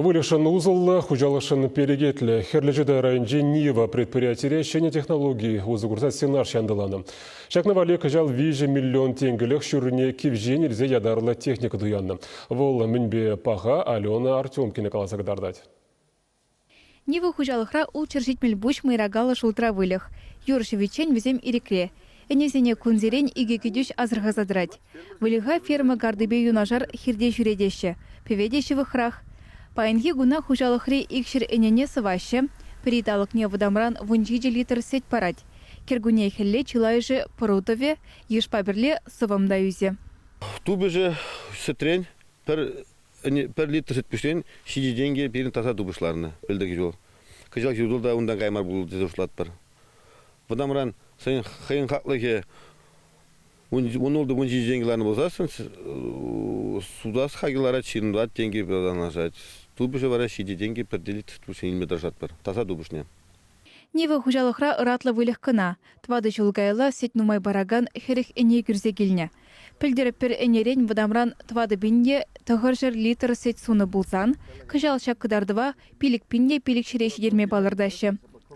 Выльӑхшӑн усӑллӑ, хуҫалӑхшӑн перекетлӗ Хӗрлӗ Чутай районӗнчи Нива предприятире ҫӗнӗ технологи усӑ курса сенаж янтӑланӑ. Ҫакна валли кӑҫал виҫӗ миллион тенкӗлӗх ҫуррине кивҫен илсе ятарлӑ техника туяннӑ. Вӑл мӗнпе паха Алена Артемкина каласа кӑтартать. Нива хуҫалӑхра ултҫӗр ҫитмӗл пуҫ мӑйракаллӑ шултра выльӑх. Юр ҫӑвиччен вӗсем ирӗкре. Ӗнесене кунсерен икӗ кӗтӳҫ асӑрхаса тӑрать. Выльӑха ферма картипе юнашар хирте ҫӳретеҫҫӗ, пӗве те ҫывӑхрах. Паянхи куна хуҫалӑхри икҫӗр ӗнене сӑваҫҫӗ, пӗри талӑкне вӑтамран вун ҫичӗ литр сӗт парать. Кӗркунне хӗлле чылайӑшӗ пӑру-тӑвӗ, йышпа пӗрле сӑвӑм та ӳсӗ. Тупӑшӗ сӗтрен пӗр пӗр литр сӗт пӳсен ҫичӗ тенкӗ пирӗн таса тупӑшланнӑ, пӗлтӗр ҫул. Кӑҫал ҫу та унтан кая мар пулӑ тесе шутлатпӑр. Вӑтамран хӑйӗн хӑйӗн хаклӑхӗ ун ултӑ вун ҫичӗ тенкӗ ларнӑ пулсассӑн сутас хакӗ ларать, ҫын тӑвать тенкӗ танлашать. Тупӑшӗ вара ҫичӗ тенкӗ пӗр литр тупӑшне илме тӑрӑшатпӑр, таса тупӑшне. Нива хуҫалӑхра ӑратлӑ выльӑх кӑна. Тӑватӑ ҫул каялла сӗт нумай паракан хӗрӗх ӗне кӳрсе килнӗ. Пӗлтерӗп, пӗр ӗнерен вӑтамран тӑватӑ пинле тӑхӑрҫӗр литр сӗт сунӑ пулсан, кӑҫал ҫак кӑтартӑва пилӗк пинле пилӗк ҫӗре ҫитерме палӑртаҫҫӗ.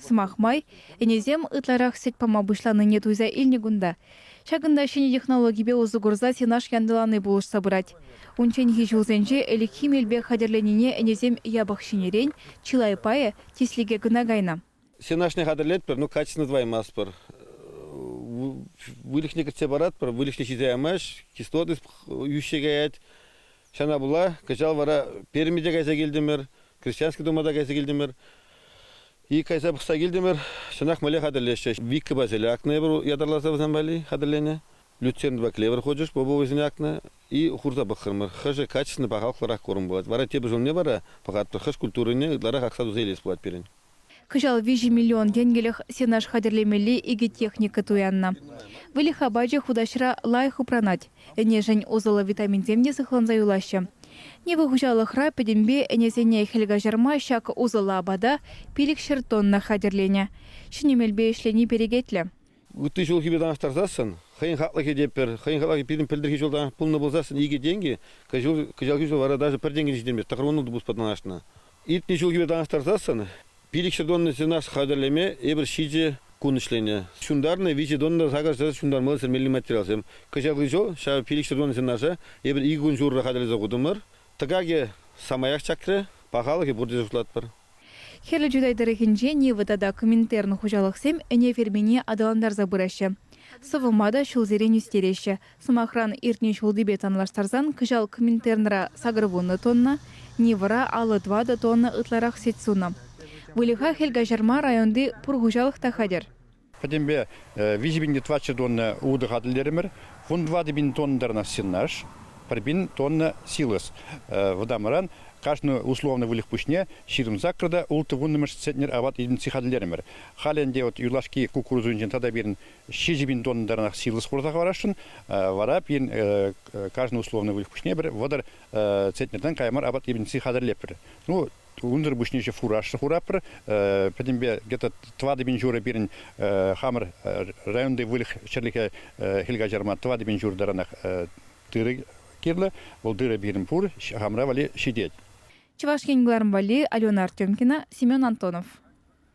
Сӑмах май, ӗнесем ытларах сӗт пама пуҫланине туйса илнӗ кунта. Ҫакӑнта ҫӗнӗ технологипе усӑ курса сенаж янтӑлани пулӑшса пырать. Унчченхи ҫулсенче ӗлӗкхи мелпе хатӗрленине ӗнесем япӑх ҫӗнӗрен, чылай пайӗ тислӗке кӑна кайнӑ. Сенажне хатӗрлетпӗр, ну качественно тӑваймастпӑр. Выльӑхне кӗртсе паратпӑр, выльӑхне ҫисе ямасть, кислотность йӳҫсе каять. Ҫавна пула кӑҫал вара Пермьте кайса килтӗмӗр, Крещански тума та кайса килтӗмӗр. Ик кайса пӑхса килтӗмӗр, чӑнах мӗнле хатӗрлеҫҫӗ. Вика басель акнӑ эпир ятарласа вӗсем валли хатӗрленӗ. Люцернпа клевер хучӗҫ попо вӗсене акнӑ и хурса пӑхрӑмӑр. Хӑшӗ качественно пахалӑхлӑрах курӑм пулать. Вара тепӗр ҫулне вара пӑхатпӑр хӑш культурине ытларах акса туса илес пулать пирӗн. Кӑҫал виҫӗ миллион тенкӗлӗх сенаж хатӗрлемелли икӗ техника туяннӑ. Выльӑх апачӗ хутаҫра лайӑх упранать. Ӗнешӗн усӑллӑ витаминсем те сыхланса юлаҫҫӗ. Нива хуҫалӑхра пӗтӗмпе ӗнесене хӗл каҫарма ҫак усӑллӑ апата пилӗк ҫӗр тонна хатӗрленӗ. Ҫӗнӗ мелпе ӗҫлени перекетлӗ. ытти ҫулхипе танлаштарсассӑн хӑйӗн хаклӑхӗ те пӗр, хӑйӗн хаклӑхӗ пирӗн пӗлтӗрхи ҫултан пулнӑ пулсассӑн икӗ тенкӗ кӑҫал кӑҫалхи ҫул вара даже пӗр тенкӗ ҫитеймест, тӑхӑрвуннӑ тупӑшпа танлашнӑ. Иртнӗ ҫулхипе танлаштарсассӑн пилӗкҫӗр тонна сенаж хатӗрлеме эпир ҫичӗ кун ӗҫленӗ. Ҫунтарнӑ виҫӗ тонна сакӑрсӑр ҫунтармалли сӗрмелли материалсем. Кӑҫалхи ҫул ҫав пилӗкҫӗр тонна сенажа эпир икӗ кун ҫурӑ хатӗрлесе хутӑмӑр. Тӑкакӗ самаях чакрӗ, пахалӑхӗ пурте шутлатпӑр. Хӗрлӗ Чутай тӑрӑхӗнче Нива тата Коминтерн хуҫалӑхсем ӗне фермине аталантарса пыраҫҫӗ. Сӑвӑма та ҫулсерен ӳстереҫҫӗ. Сӑмахран, иртнӗ ҫултипе танлаштарсан кӑҫал Коминтернра сакӑр вуннӑ тонна, Нивӑра аллӑ тӑватӑ тонна ытларах сӗт сунӑ. Выльӑха хӗл каҫарма районти пур хуҫалӑх та хатӗр. Пӗтӗмпе виҫӗ пин литваччӑ тонна утӑ хатӗрлерӗмӗр. Кун тӑватӑ пин тоннӑран сенаж, пӗр пин тонна силос вӑтамран кашни условнӑй выльӑх пуҫне ҫирӗм сакӑр та ултӑ вуннӑмӗш центнер апат единици хатӗрлерӗмӗр. Халӗ ӗнтӗ вот юлашки кукурузӑнчен тата пирӗн ҫичӗ пин тоннӑранах силос хурса хӑварасшӑн. Вара пирӗн кашни условнӑй выльӑх пуҫне пӗр вӑтӑр центнертан кая мар апат единици хатӗрлетпӗр. Ну, Унсӑр пуҫне фуражсӑр хураппӑр. Пӗтӗмпе где-то тӑватӑ пин ҫурӑ пирӗн хамӑр районти выльӑх-чӗрлӗхе хӗл каҫарма тӑватӑ пин ҫур таранах тырӑ кирлӗ. Вӑл тырӑ пирӗн пур, хамӑра валли ҫитет. Чӑваш Ен кӑларӑм валли Алена Артемкина, Семен Антонов.